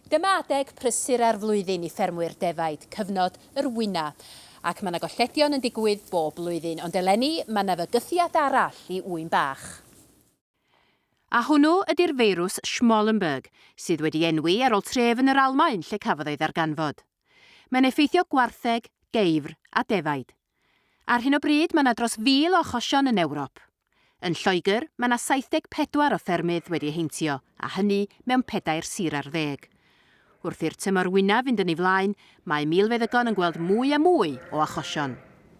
Dyma adeg prysur ar flwyddyn i ffermwyr defaid, cyfnod yr wyna, ac mae 'na golledion yn digwydd bob blwyddyn, ond eleni mae 'na fygythiad arall i ŵyn bach. A hwnnw ydi'r feirws Schmallenberg, sydd wedi enwi ar ol tref yn yr Almaen lle cafodd ei ddarganfod. Mae'n effeithio gwartheg, geifr a defaid. Ar hyn o bryd mae 'na dros 1,000 o achosion yn Ewrop. Yn Lloegr mae 'na 74 o ffermydd wedi eu heintio a hynny mewn pedair sir ar ddeg. Wrth i'r tymor wynaf fynd yn ei flaen mae milfeddygon yn gweld mwy a mwy o achosion.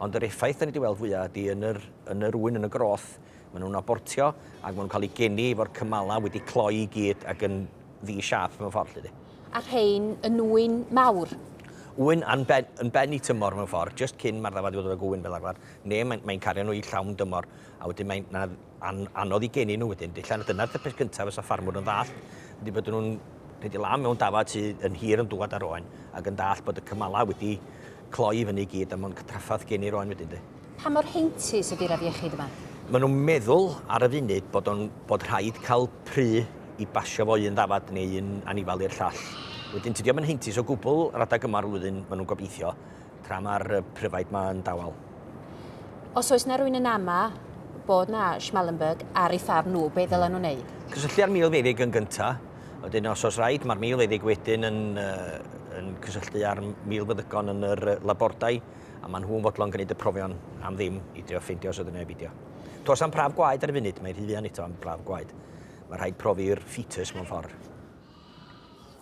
Ond yr effaith 'dan ni 'di weld fwya' ydi yn yr yn yr ŵyn, yn y groth, ma' nw'n abortio ag ma' nw'n ca'l 'u geni efo'r cymala wedi cloi i gyd ag yn ddi-siâp mewn ffor 'lly 'de. A rhein yn ŵyn mawr? Ŵyn yn ben yn ben 'i tymor mewn ffor, jyst cyn ma'r ddafad i fod yn ŵyn fel arfar, ne' mae'n mae'n cario nw i llawn dymor. a wedyn mae'n na, an, anodd i geni nhw wedyn. Dillan, dyna'r tŷ peth cyntaf fysa ffarmwr yn ddall, ydy bod nhw'n rhaid i lam mewn dafad sydd yn hir yn dŵad ar oen, ac yn dall bod y cymalau wedi cloi i fyny i gyd, a mae'n cytraffath geni'r oen wedyn de. Pa mor heintus ydy'r afiechyd yma? Maen nhw'n meddwl ar y funud bod, on, bod rhaid cael pry i basio fo un ddafad neu un anifal i'r llall. Wedyn tydio yn heintus o gwbl radag yma'r flwyddyn maen nhw'n gobeithio. Tra mae'r pryfaid ma yn dawel. Os oes na rwy'n yn ama bod na Schmallenberg ar ei ffarm nhw, be ddylen nhw wneud? Cysylltu â'r milfeddyg yn gynta. Wedyn os oes rhaid, mae'r milfeddyg wedyn yn, uh, yn cysylltu â'r milfeddygon yn yr labordai, a maen nhw'n fodlon gwneud y profion am ddim i drio ffeindio os oedd yna ebidio. Tos am prawf gwaed ar y funud, mae rhy fuan eto am prawf gwaed. Mae rhaid profi'r fetus mewn ffordd.